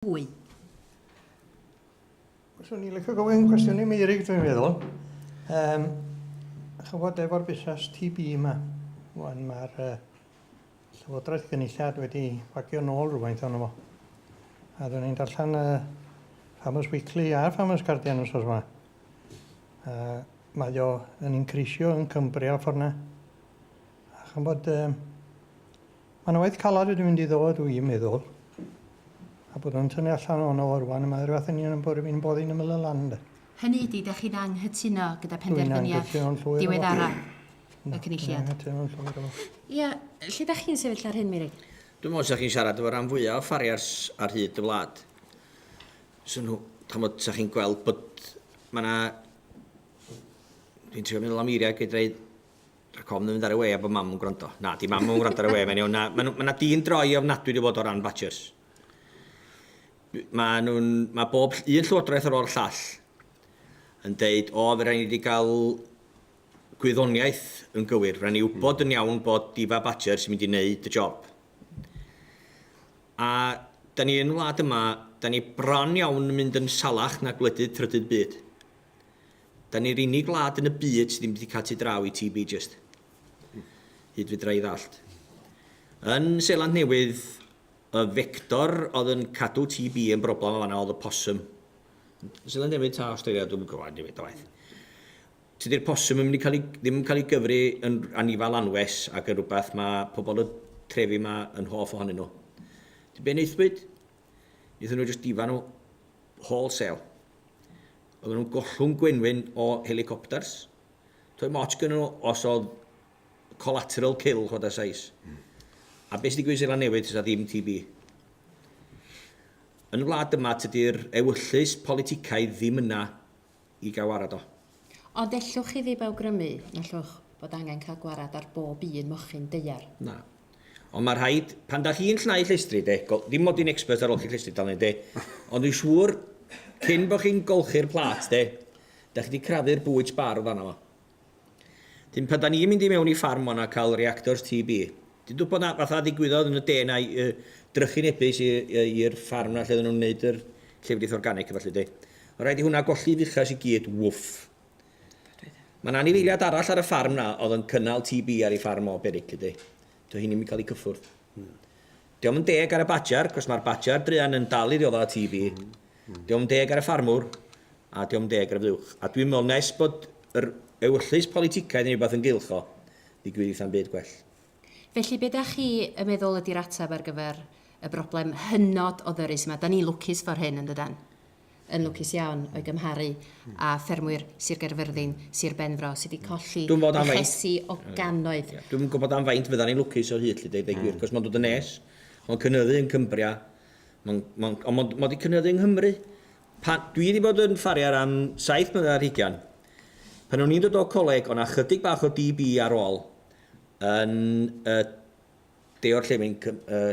fwy. Swn i'n licio gofyn cwestiwn i Meirig, dwi'n meddwl. Um, chybod efo'r busnes TB yma, wan mae'r uh, Llywodraeth Gynulliad wedi bagio nôl rhywfaint o'n fo. A dwi'n i'n darllen y uh, Farmers Weekly a Farmers Guardian os oes yma. Uh, mae o yn increisio yn Cymru a ffordd yna. A chybod, um, Mae 'na waith calad wedi mynd i ddod, dw i'n meddwl, a bod nhw'n tynnu allan ohono fo rŵan, a mae o ryw fath o union yn bod fi'n boddi'n ymyl y lan ynde. Hynny ydi, dach chi'n anghytuno gyda phenderfyniad diweddara y Cynulliad? Dwi'n anghytuno'n llwyr efo fo. Ia, lle dach chi'n sefyll ar hyn, Meirug? Dwi'n meddwl 'sa chi'n siarad efo ran fwya' o farriers ar hyd y wlad, 'sa nhw, dach ch'mod, 'sa chi'n gweld bod ma' 'na, dwi'n trio meddwl am eiriau gei-ddeud, Ac ofn yn mynd ar y we a bod mam yn gwrando. Na, di mam yn gwrando ar y we, mae'n iawn. Na, mae yna dîn droi ofnadwy di fod o ran badgers. Mae nhw'n, mae bob un llywodraeth ar ôl llall yn deud, o, fe rhaid ni wedi cael gwyddoniaeth yn gywir. Rhaid ni wybod yn iawn bod difa badger sy'n mynd i wneud y job. A da ni yn wlad yma, da ni bron iawn yn mynd yn salach na gwledydd trydydd byd. Da ni'r unig wlad yn y byd sydd ddim wedi cael tu draw i TB jyst. Hyd fedra i ddallt. Yn Seland Newydd, y vector oedd yn cadw TB yn broblem o fanna oedd y possum. Seland Newydd ta Australia, dwi'n gwybod, dim byd o waith. Tydi'r possum yn mynd i cael ei, ddim yn cael ei gyfri yn anifal anwes ac yn rhywbeth mae pobl y trefi yma yn hoff ohonyn nhw. Ti'n be wnaethpwyd? Nethon nhw jyst difa nhw wholesale. Oedden nhw'n gollwng gwenwyn o helicopters. Toi moch gynnu nhw os oedd collateral kill chwada sais. Mm. A beth sydd wedi gwneud Seland Newydd sydd ddim TB? Yn y wlad yma tydy'r ewyllys politicaidd ddim yna i gael warad o. Ond ellwch chi ddim awgrymu na allwch fod angen cael gwarad ar bob un mochyn daear. Na. Ond mae rhaid, pan da chi'n llnau llestri de, go- dim mod i'n expert ar olchi llestri dal de, ond dwi'n siŵr, cyn bod chi'n golchi'r plât de, da chi 'di crafu'r bwyd sbarf arno fo. Dyn pan da ni'n mynd i mewn i ffarm mona cael reactors TB. Ti'n dwbod na fatha ddigwyddodd yn y de na i uh, drychinebus i'r ffarm na lle oedden nhw'n wneud yr llefrith organic a falle de. Oedd rhaid i hwnna golli fuchas i gyd, wwff. Mae'n anifeiliad arall ar y ffarm na oedd yn cynnal TB ar ei ffarm o beryg, ydy. Dyw hyn ddim yn cael ei gyffwrdd. Diolch yn deg ar y badger, cos mae'r badger druan yn dal i ddioddau y TV. Diolch yn deg ar y ffarmwr, a diolch yn deg ar y fuwch. A dwi'n meddwl nes bod yr ewyllys politicaidd neu rhywbeth yn gylch o, ddigwydd eitha'n byd gwell. Felly be da chi yn meddwl ydi'r ateb ar gyfer y broblem hynod o ddyrus yma? Da ni'n lwcus for hyn, yn dydan? yn lwcus iawn o'i gymharu â ffermwyr Sir Gaerfyrddin, Sir Benfro, sydd wedi colli llesi o gannoedd. Dwi'm yn gwybod am faint fyddan ni'n lwcus o hyd 'lly, deud y gwir, achos mae'n dod yn nes, mae'n cynyddu yn Cumbria, mae'n, mae'n, ond mae o 'di cynyddu yng Nghymru. Pan, dwi 'di bod yn ffariar am saith mlynedd ar hugain. Pan o'n i'n dod o coleg, o' 'na chydig bach o DB ar ôl yn y de-orllewin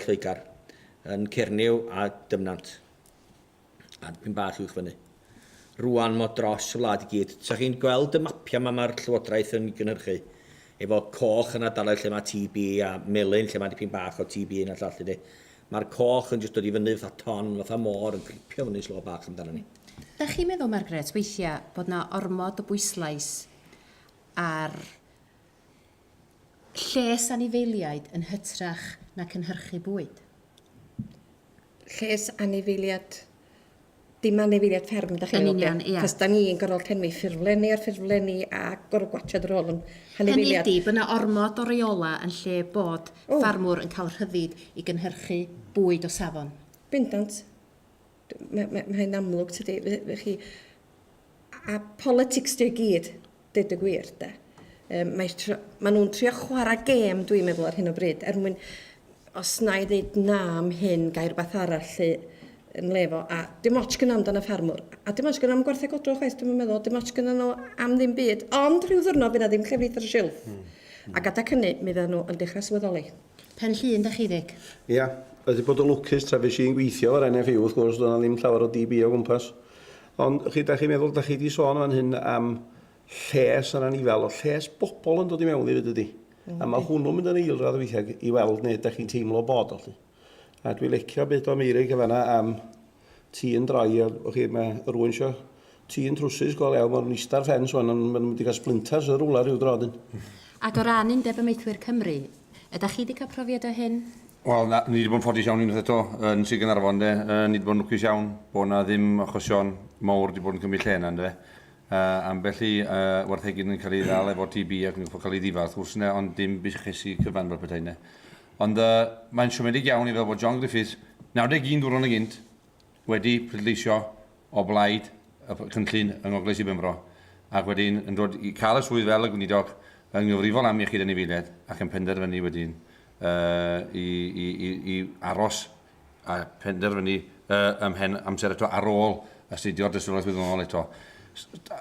Lloegr, yn Cernyw a Dyfnant. a dipyn bach uwch fyny. Rwan mo dros y wlad i gyd. Sa chi'n gweld y mapiau yma mae'r Llywodraeth yn gynhyrchu, efo coch yn ardaloedd lle mae TB a melyn lle mae dipyn bach o TB yn y llall ydy. Mae'r coch yn jyst dod i fyny fatha ton, fatha môr yn cripio fyny slo bach amdano ni. Dach chi'n meddwl, Margaret, weithiau bod na ormod o bwyslais ar Lles anifeiliaid yn hytrach na cynhyrchu bwyd. Lles anifeiliad dim anifeiliad fferm dach chi'n meddwl? Yn union, ia. Cos da ni'n gorfod llenwi ffurflenni ar ffurflenni a gorfod gwachod yr ôl yn hanifeiliad. Hynny ydi, bod yna ormod o reola yn lle bod oh. ffarmwr yn cael rhyddid i gynhyrchu bwyd o safon. Bendant. Mae, mae, mae hyn amlwg, tydi, fe chi. A politics dy gyd, dyd y gwir, de. Um, mae, mae nhw'n trio chwarae gêm, dwi'n meddwl, ar hyn o bryd, er mwyn, os na i ddeud na am hyn, gair bath arall lle yn lefo, a dim ots gyda amdan y ffarmwr, a dim ots gyda am gwartheg odro chwaith, dwi'n meddwl, dim ots gyda nhw am ddim byd, ond rhyw ddwrnod fydd na ddim llefrith ar y silff. Mm. Ac adag hynny, mi fydden nhw yn dechrau swyddoli. Pen Llŷn 'da chi Vic? Ia, wedi bod yn lwcus tra fues i'n gweithio efo'r NFU wrth gwrs, doedd 'na ddim llawer o DB o gwmpas. Ond, y'ch chi, dach chi'n meddwl, dach chi 'di sôn fan hyn am lles yr anifail, o'dd lles bobl yn dod i mewn hefyd dydi? A ma' hwnnw'n mynd yn eilradd weithiau i weld neu dach chi'n teimlo bod o 'lly. A dwi licio be do Meirig yn fan'na am Ti yn dry a wch chi mae rwy'n sio ti yn trwsus go lew mor nista'r ffens wan ond maen nhw'n mynd i gael splinters yn rwla rhyw dro dyn. Ac o ran Undeb Amaethwyr Cymru, ydach chi 'di cael profiad o hyn? Wel na, ni 'di bod yn ffodus iawn unwaith eto yn Sir Gaernarfon ynde, yy ni 'di bod yn lwcus iawn bod 'na ddim achosion mowr 'di bod yn cymryd lle yna ynde. Yy ambell i yy warthegyn yn cael ei ddal efo TB ac yn gorfod cael ei ddifa wrth gwrs ynde ond dim bushesu cyfan fel petai ynde. Ond mae'n siomedig iawn i feddwl bod John Griffiths, 91 dwrnod yn gynt, wedi pleidleisio o blaid y cynllun yng Ngogledd Sir Benfro ac wedyn yn dod i cael y swydd fel y Gweinidog yn gyfrifol am Iechyd Anifeiliaid ac yn penderfynu wedyn i aros a phenderfynu ym mhen amser eto ar ôl astudio'r dystiolaeth wyddonol eto.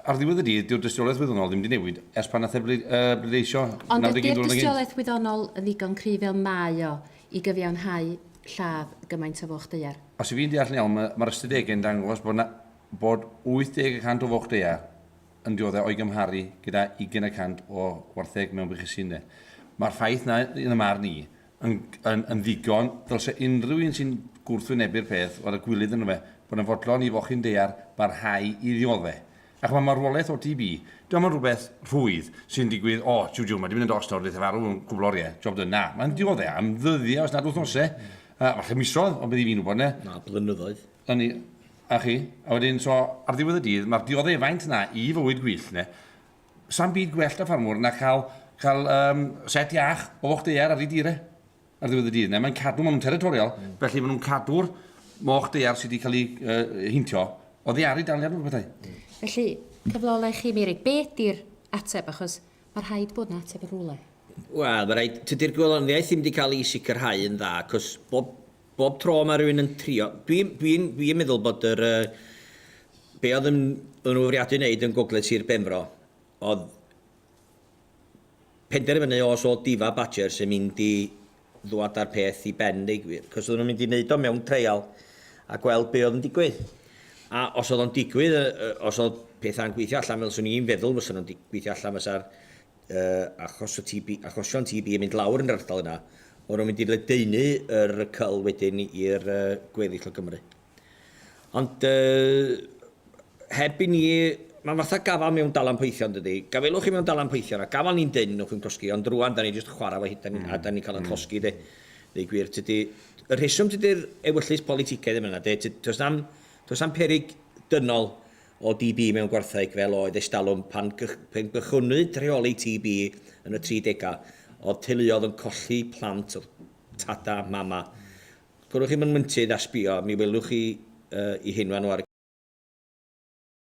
Ar ddiwedd y dydd, dyw'r dystiolaeth wyddonol ddim wedi newid ers pan nath e bleidleisio 91 Ond ydi'r dystiolaeth wyddonol yn ddigon cryf fel mae o i gyfiawnhau lladd gymaint o foch daear? Os i fi'n deall yn iawn, mae'r ystadegau yn dangos bod 'na bod 80 y cant o foch daear yn dioddef o'i gymharu gyda ugain y cant o wartheg mewn bychusine. Mae'r ffaith 'na, yn y marn i, yn yn yn ddigon, dylse unrhyw un sy'n gwrthwynebu'r peth fod â gwilydd ynddo fe, bod yn fodlon i fochyn daear barhau i ddiodde'. A ch'mo' marwolaeth o TB, dio'm yn rhywbeth rhwydd sy'n digwydd, o, jiw jiw, mae 'di mynd yn dost nawr, neith e farw yn gwbl orie, job done. Na, mae'n diodde' am ddyddie os nad wythnose, yy falle misoedd, ond beth i fi'n wybod, ynde? Na, blynyddoedd. Yn i- a chi? A wedyn, so, ar ddiwedd y dydd, ma'r diodde' faint 'na i fywyd gwyllt, ynde? Sam byd gwell da ffarmwr na cael, cael um, set iach o foch deiar ar ei dir e ar ddiwedd y dydd. Neu mae'n cadw, maen nhw'n territorial, mm. felly maen nhw'n cadw'r moch deiar sydd wedi cael ei uh, hintio o ddiaru daliad o'r bethau. Mm. Felly, cyflolau chi, Miri, beth di'r ateb? Achos mae rhaid bod yna ateb yn rhywle. Wel, mae rhaid, tydy'r gweloniaeth ddim wedi cael ei sicrhau yn dda, cos bob Bob tro mae rhywun yn trio... Dwi'n dwi n, dwi n meddwl bod yr, uh, be oedd yn, yn fwriadu wneud yn Gogledd Sir Benfro, oedd penderfynu os oedd Diva Badgers yn mynd i ddwad â'r peth i ben neu gwir, cos oedden nhw'n mynd i wneud o mewn treial a gweld be oedd yn digwydd. A os oedd o'n digwydd, os oedd pethau'n gweithio allan fel swn i'n feddwl fysa nhw'n gweithio allan fysa'r achos y TB, achosion TB yn mynd lawr yn yr ardal yna, o'n nhw'n mynd i ledaenu yr cyl wedyn i'r uh, gweddill o Gymru. Ond uh, heb i ni, mae'n fatha gafal mewn dalan poethion dydy, gafelwch chi mewn dalan poethion a gafal ni'n dyn nhw'n chi'n closgi, ond rwan da ni jyst chwarae fo hyd mm. a da ni'n cael yn mm. closgi de. Neu gwir, tydy, y rheswm tydy'r ewyllus politicaidd yma, de, does na'm, does na'm perig dynol o DB mewn gwartheg fel oedd estalwm pan gychwynnwyd rheoli TB yn y tri degau, oedd teuluodd yn colli plant oedd tada, mama. Gwnewch chi fy myntydd a sbio, mi welwch chi i hyn fan 'no ar y